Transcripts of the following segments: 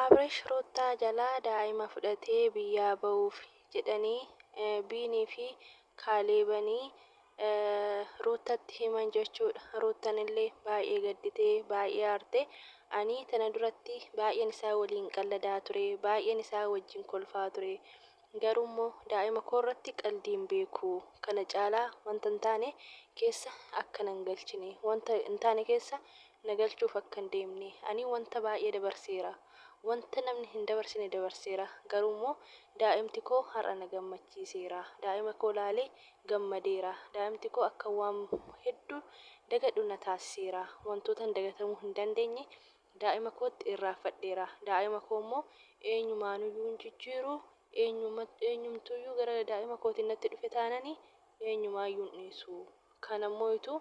Abrish Ruttaa jalaa daa'ima fudhatee biyyaa ba'uufi jedhanii Biinii fi Kaaleebanii Ruuttatti himan jechuudha. Ruuttanillee baay'ee gadditee, baay'ee aarte. Ani tana duratti baay'een isaa waliin qalladaa ture, baay'een isaa wajjin kolfaa ture. Garuu immoo daa'ima koo irratti qaldii hin beeku. Kana caalaa wanta hin taane keessa akka nan galchine, wanta hin taane keessa na galchuuf akka hin deemne. Ani wanta baay'ee dabarseera. Wanta namni hin dabarsine dabarseera. Garuu immoo daa'imti koo har'a na gammachiiseera. Daa'ima koo ilaalee gammadeera. Daa'imti koo akkan waan hedduu dagadhu na taasiseera. Wantootan dagatamuu hin dandeenye daa'ima kootti irraanfadheera. Daa'ima koo immoo eenyumaanuyyuu hin jijjiiru. Eenyumtuuyyuu gara daa'ima kootiin natti dhufe taanani eenyumaayyuu hin dhiisu. Kana immoo ituu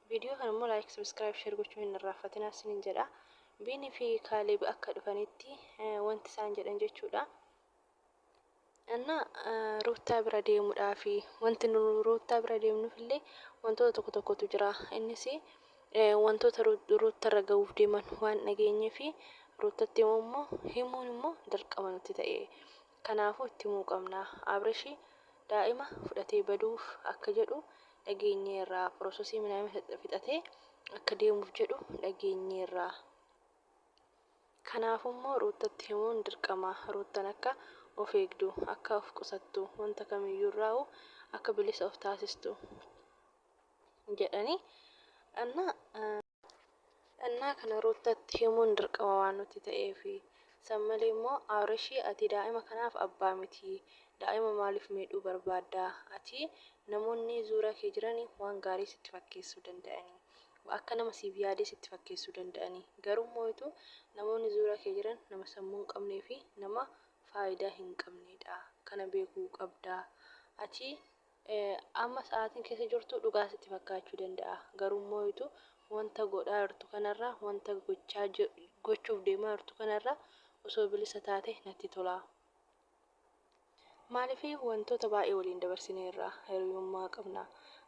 Video kana immoo like subscribe share gochuu hin irraanfatinaa sinin jedha. Biini fi Kaaleb akka dhufanitti wanti isaan jedhan jechuudha. Anna ruuttaa bira deemudhaa fi wanti nu ruuttaa bira deemnuuf illee wantoota tokko tokkotu jira. Innis wantoota ruutta irra ga'uuf deeman waan dhageenyee fi ruuttatti immoo himuun immoo dirqama nutti ta'e. Kanaafuu itti himuu qabna. Abrishi daa'ima fudhatee baduuf akka jedhu dhageenyeerra. Pirosesii minaamina fixatee akka deemuuf jedhu dhageenyeerra. Kanaafummoo Ruuttatti himuun dirqama. Ruuttan akka of eegdu, akka of qusattu, wanta kamiyyuurraahuu akka bilisa of taasistu jedhanii. Dhannaa kana Ruuttatti himuun dirqama waan nutti ta'eefi. San malee immoo Abrashii ati daa'ima kanaaf abbaa miti. Daa'ima maaliif miidhuu barbaadda? Ati namoonni zuura kee jirani waan gaarii sitti fakkeessuu danda'ani. Akka nama siif yaadee sitti fakkeessuu danda'ani. Garuu mooitu namoonni zuura kee jiran nama sammuu hin qabnee fi nama faayidaa hin qabneedha. Kana beekuu qabda. Ati Amma sa'aatiin keessa jirtu dhugaa sitti fakkaachuu danda'a, garuu immoo wanta godhaa jirtu kana irraa, wanta gochaa, gochuuf deemaa jirtu kana irraa osoo bilisa taate natti tola. Maaliif wantoota baay'ee waliin dabarsineerra, hiriyummaa qabna.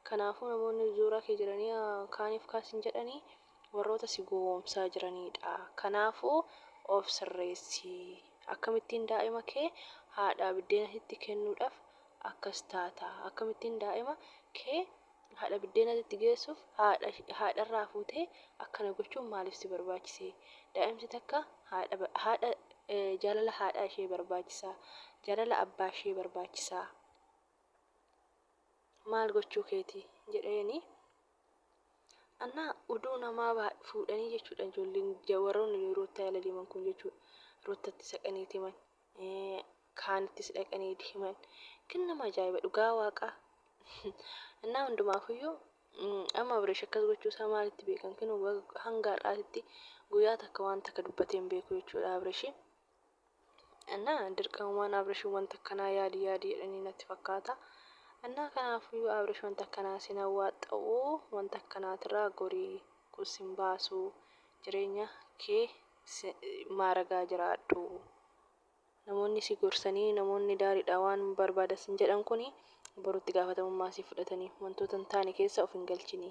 Kanaafuu namoonni zuuraa kee jiranii kaaniif kaas hin jedhanii warroota si gowwoomsaa jiraniidha. Kanaafuu of sirreessi. Akkamittiin daa'ima kee haadhaa biddeena sitti kennuudhaaf akkas taata akkamittiin daa'ima kee haadha biddeenatti itti geessuuf haadha haadha irraa fuutee akkana gochuun maaliif si barbaachise daa'imti takka haadha haadha jaalala haadhaa ishee barbaachisa jaalala abbaa ishee barbaachisa maal gochuu keeti jedheeni annaa uduu namaa baa- fuudhanii jechuudha ijoolleen ja- warroonni yeroo itti yaala deeman kun jechuudha roottatti saqanii himan kaanittis dhaqanii itti himan kan nama ajaa'iba dhugaa waaqaa innaa hundumaafuyyuu amma abreesh akkas gochuu isaa maalitti beekan kinu hanga har'aatitti guyyaa takka waan takka dubbatee hin beeku jechuudha abreeshi innaa dirqamumaan abreeshi wanta akkanaa yaadi yaadi jedhanii natti fakkaata innaa kanaafuyyuu abreesh wanta akkanaa sin hawwaaxxa'uu wanta akkanaatirraa gorii kun sin baasuu jireenya kee si maaragaa jiraadhu. Namoonni si gorsanii, namoonni daariidha waan barbaada sin jedhan kuni boru itti gaafatamummaa si fudhatani. Wantoota hin taane keessa of hin galchini.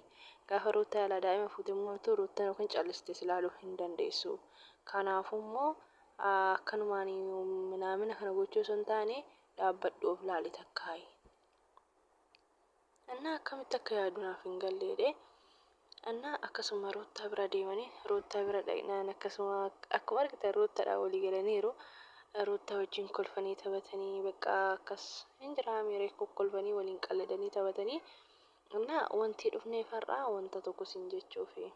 Gaafa Ruuttaa yaalaa daa'ima fuute immoo Ruuttan yookiin calliste si laaluu hin dandeessu. Kanaafuu immoo akkanumaani minaamina kana gochuu osoo hin taane dhaabbadhu of laali takkaayi. Annaa akkamitti akka yaadu naaf hin galle jedhee annaa akkasuma ruuttaa bira deemanii ruuttaa bira dhaqnaan akkasuma akkuma argitan ruuttadhaa walii galaniiru ruuttaa wajjin kolfanii taphatanii baqqaa akkas hin jiraa miiree kolfanii waliin qalladanii taphatanii annaa wantii dhufnee far'aa wanta tokko siin jechuufi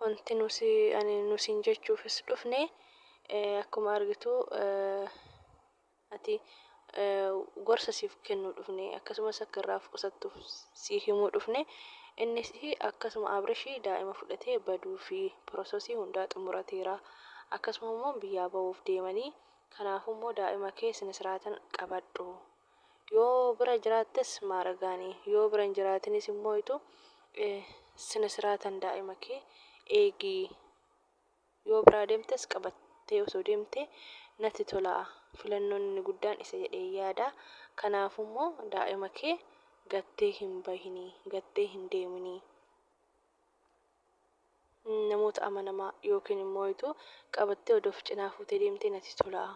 wanti nusi ani nusiin jechuufis dhufne akkuma argitu ati gorsa siif kennuu dhufne akkasumas akka irraa of qusattuuf sii himuu dhufne innis akkasuma abrishii daa'ima fudhatee baduu fi prososii hundaa xumurateera akkasuma immoo biyyaa ba'uuf deemanii kanaafu immoo daa'ima kee sinisraatan qabadhu yoo bira jiraattes maaragaani yoo bira hin jiraatinis immoo itu sinisraatan daa'ima kee eegii Yoo biraa deemtes qabattee osoo deemtee natti tola. Filannoon inni guddaan isa jedheen yaada. Kanaafummoo daa'ima kee gattee hin bahini, gattee hin deemini. Namoota amanamaa yookiin immoo ituu qabattee odoo of cinaa fuutee deemtee natti tola.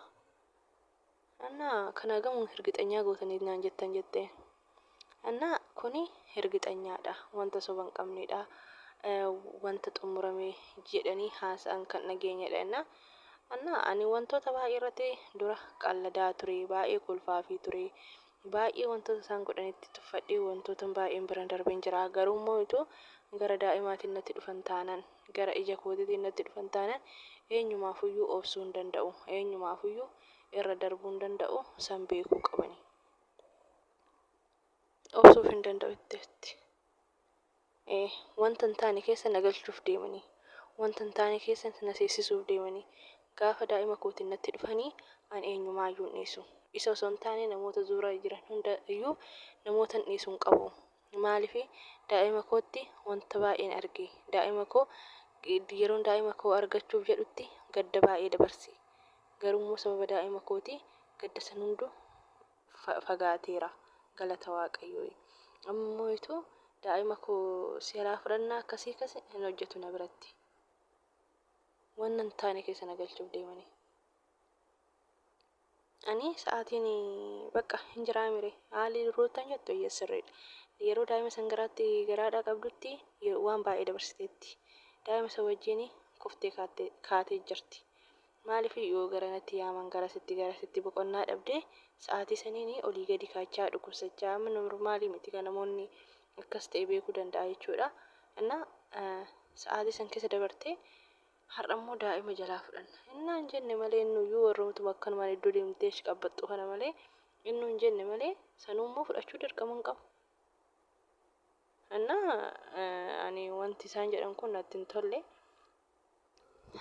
Anna, Kan hagam hirgixanyaa gootaniit naan jettan? jette. Anna, Kuni hirgixanyaadha, wanta soba hin qabneedha, wanta xummurame jedhanii haasa'an kan dhageenyedha jennaan. Anna, Ani wantoota baay'ee irratti dura qalladaa ture, baay'ee kolfaafii ture, baay'ee wantoota isaan godhanitti tuffadhee wantootan baay'een biran darbeen jira, garuummoo utuu gara daa'imaatiin natti dhufan taanan, gara ija kootiitiin natti dhufan taanaan, eenyumaafuu iyyuu obsuu hin danda'u, eenyumaafuu iyyuu irra darbuu hin danda'u, san beekuu qabani. Obsuuf hin danda'u itti itti. Ee, wanta hin taane keessa na galchuuf deemanii, wanta hin taane keessa na seensisuuf deemanii, gaafa daa'ima kootiin natti dhufanii an eenyumaa iyyuu hin dhiisu. Isa osoo hin taane namoota zuura jiran hunda iyyuu namootan dhiisu hin qabu. Maaliif? Daa'ima kootti wanta baay'een arge. Daa'ima koo, yeroon daa'ima koo argachuuf jedhutti gadda baay'ee dabarse. Garuu immoo sababa daa'ima kootii gadda san hunduu fagaateera. Galata Waaqayyooyi. Amma immoo ituu daa'ima koo si jalaa fudhannaa akkasii akkasii hin hojjetu na biratti. Wanna hin taane keessa na galchuuf deemanii. Ani sa'aatiin bakka hin jiraamire haalli ruuttan jettu eeyyee sirriidha. Yeroo daa'ima san garaatti garaadhaa qabdutti ye- waan baay'ee dabarsiteetti. Daa'ima san wajjin kuftee kaattee kaatee jirti. Maaliif yoo gara natti yaaman garasitti garasitti boqonnaa dhabdee sa'aatii saniin olii gadi kaachaa dhukkubsachaa amma normaalii miti kan namoonni akkas ta'e beekuu danda'a jechuudha. Innaa eh, sa'aatii san keessa dabartee Har'ammoo daa'ima jalaa fudhanna. Innaan jenne malee innuyyuu warrumtuma akkanumaan iddoo deemtee ashqabbaxxu kana malee innuun jenne malee sanuummoo fudhachuu dirqama hin qabu. Innaa ani wanti isaan jedhan kun natti hin tolle.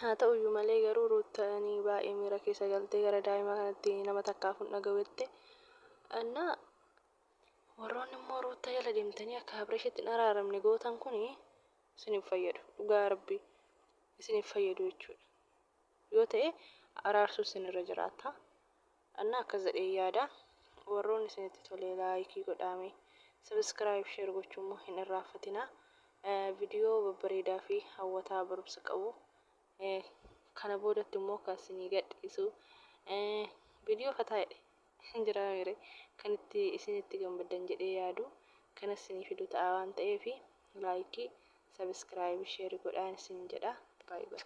Haa ta'uyyuu malee garuu Ruuttaan baay'ee miira keessa galtee gara daa'ima kanatti nama takkaaf hin dhaga'u jette. Innaa warroonni immoo Ruuttaa jala deemtanii akka Abreeshitti hin araaramne gootan kun isin hin fayyadu dhugaa rabbii isin hin fayyadu jechuudha yoo ta'e araarsu isin irra jiraata annaa akkas jedhee yaada warroon isinitti tolee laayikii godhaame sabiskiraayib sheer gochuu immoo hin irraanfatinaa viidiyoo babbareedaa fi hawwataa barumsa qabu kana boodatti immoo kan isinii gadhiisu viidiyoo fataa jedhe hin jiraa mire kan itti isin itti gammaddan jedhee yaadu kana isinii fidu ta'a waan ta'eef laayikii sabiskiraayibii sheeri godhaan isin jedha baay'ee.